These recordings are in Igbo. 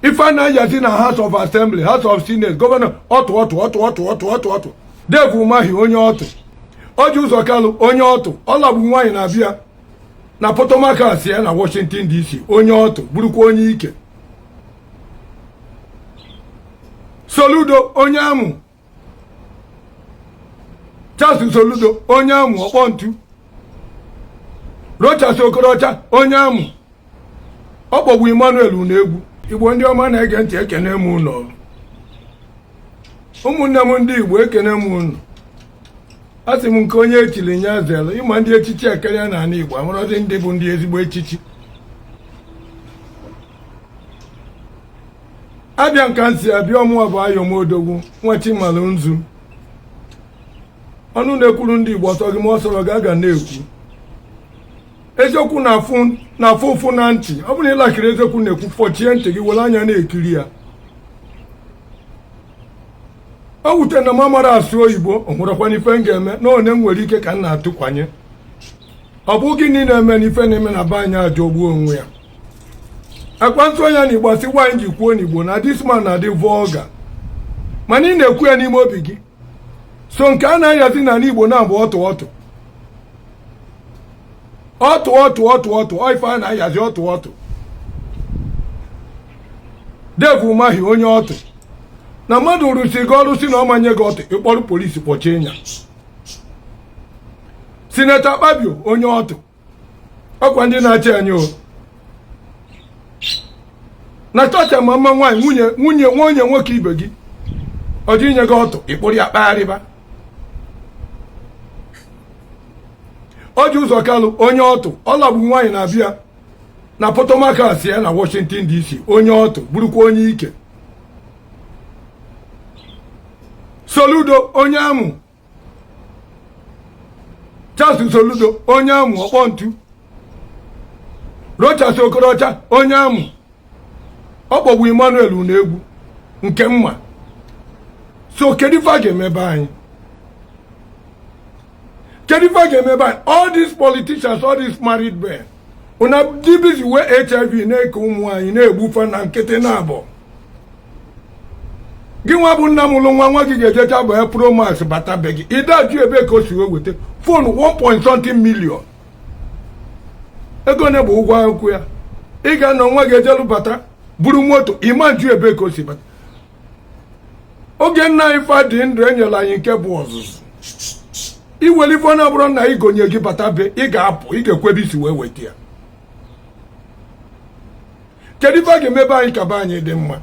ife a na-ayazi na house of assembly house of senate gọvanọ ọtụ ọtụ ọtụ ọtụ ọtụ ọtụ ọtụ dave umahi onye ọtụ orji uzor kalu onye ọtụ ọ lagbu nwaanyị na abia na potomac si ya na washington dc onye ọtụ bụrụkwa onye ike soludo onye amụ Charles Soludo onye amụ ọkpọ ntu Rochas Okorocha onye amụ ọ kpọgbu Emmanuel Unegbu Igbo ndị ọma na-ege ntị ekene m ụnụ ụmụnne m ndị Igbo ekene m ụnụ a sị m nke onye echiri nya zere ịma ndị echichi ekeria na ala Igbo amarọzi ndị bụ ndị ezigbo echichi abịa nka nsi abịa ọ mụwa bụ ayọmodogwu nwa chimala nzu ọnụ na-ekwuru ndị igbo ọ sọ gị ma ọ sọrọ gị a ga na-ekwu eziokwu na-afụ ụfụ na ntị ọ bụrụ na ị likerọ eziokwu na-ekwu fọchie ntị gị were anya na-ekiri ya o wute na m amarọ asụ oyibo o nwerọkwana ife m ga-eme na one m nwere ike ka m na-atụkwanye ọ bụ gịnị na-eme na ife na-eme na be anyị ajọgbuo onwe ya ọkwa m sụọ nya na igbo a sị why m ji kwuo n'igbo na this man na-adị vulgar mana ị na-ekwu ya n'ime obi gị so nke a na-ayazi n'ala igbo na-abụ ọtụ ọtụ ọtụ ọtụ ọtụ ọtụ ife a na-ayazi ọtụ ọtụ dave umahi onye ọtụ na mmadụ rụsi gị ọrụ sị na ọ ma nye gị ọtụ ị kpọrọ polisi kpọchie nya sineta akpabio onye ọtụ ọkwa ndị na-achị anyị o natasha ama mma nwaanyị nwunye nwunye nwunye nwoke ibe gị ọ dị inye gị ọtụ ị kpụrụ ya kpagharịba orji uzor kalu onye ọtụ ọ lagbu nwaanyị na abia na potomac si ya na washington dc onye ọtụ bụrụkwa onye ike soludo onye amụ Charles Soludo onye amụ ọkpọ ntu Rochas Okorocha onye amụ ọ kpọgbu Emmanuel Unegbu nke mma so kedu ife a ga-eme be anyị kedu ife a ga-eme be anyị all these politicians all these married men una dị busy wee hiv na-eke ụmụ anyị na-egbu fa na nkịtị na-abụ gị nwa bụ nna mụrụ nwa nwa gị ga-ejecha bu Pro Max bata be gị ị da-ajụ ebe ka o si wee weta fon 1.something million ego one bụ ụgwọ akwụkwọ ya ị ga-anọ nwa gị ejelu bata buru moto ị ma ajụ ebe ka o si bata oge nna anyị fa dị ndụ enyela anyị nke bụ ọzụzụ i were ife ọ na-abụrọ nna ị gonye gị bata be ị ga-apụ ị ga-ekwu ebe i si wee weta ya kedu ife a ga-emebe anyị ka be anyị dị mma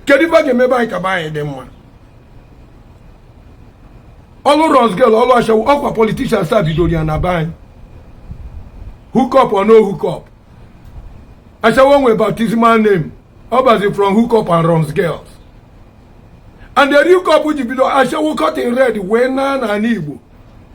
kedu ife a ga-emebe anyị ka be anyị dị mma ọlụ runs girl ọlụ ashawo ọkwa politicians a bidoro ya na be anyị hookup or no hookup ashawo nwe baptismal name ọ bazi from hookup and runs girl and the hookup ji bido ashawo cotton red wee na n'anị igbo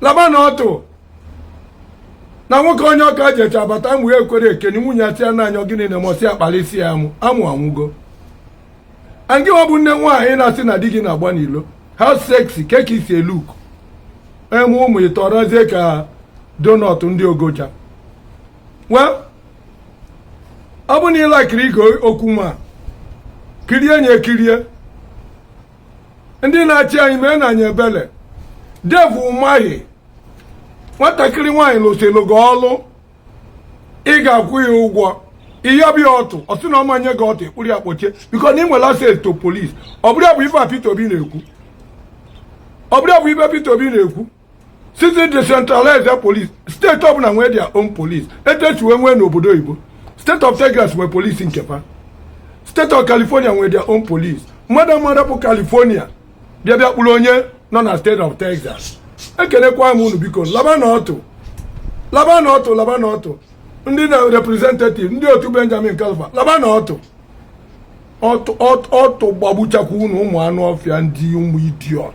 laba na ọtụ na nwoke onye ọka ji eche abata amụ ya ekwere ekeni nwunye ya tia n'anya gịnị na mọsi akpali isi ya amụ amụ anwụgo and gị ọ bụ nne nwaanyị na-asị na di gị na-agba n'ilo how sexy kee ka i si e-look eme ụmụ ị tọrọzie ka donut ndị ogoja well ọ bụ na ịlakiri ige okwu ma kirie nye kirie ndị na-achị anyị meenụ anyị ebele Dave Umahi nwatakịrị nwaanyị lụsịrị gị ọlụ ị ga-akwụ ya ụgwọ ị yọba ya ọtụ ọ sị na ọ ma enye gị ọtụ ị kpụrụ ya kpọchie because na ị nwere access to police ọ bụrọ ya bụ ife a Peter Obi na-ekwu ọ bụrọ ya bụ ife Peter Obi na-ekwu sị e decentralize police steeti ọbụla nwee their own police etu esi wee nwee n'obodo oyibo state of Texas nwee police nke fa state of California nwee their own police mmadụ mmadụ bụ California bịa bịa kpụrụ onye nọ na state of Texas ekenekwa m unu biko laba na ọtụ laba na ọtụ laba na ọtụ ndị na representative ndị otu Benjamin Kalu fa laba na ọtụ ọtụ gbagbuchakwa unu ụmụ anụ ọfịa ndị ụmụ idiot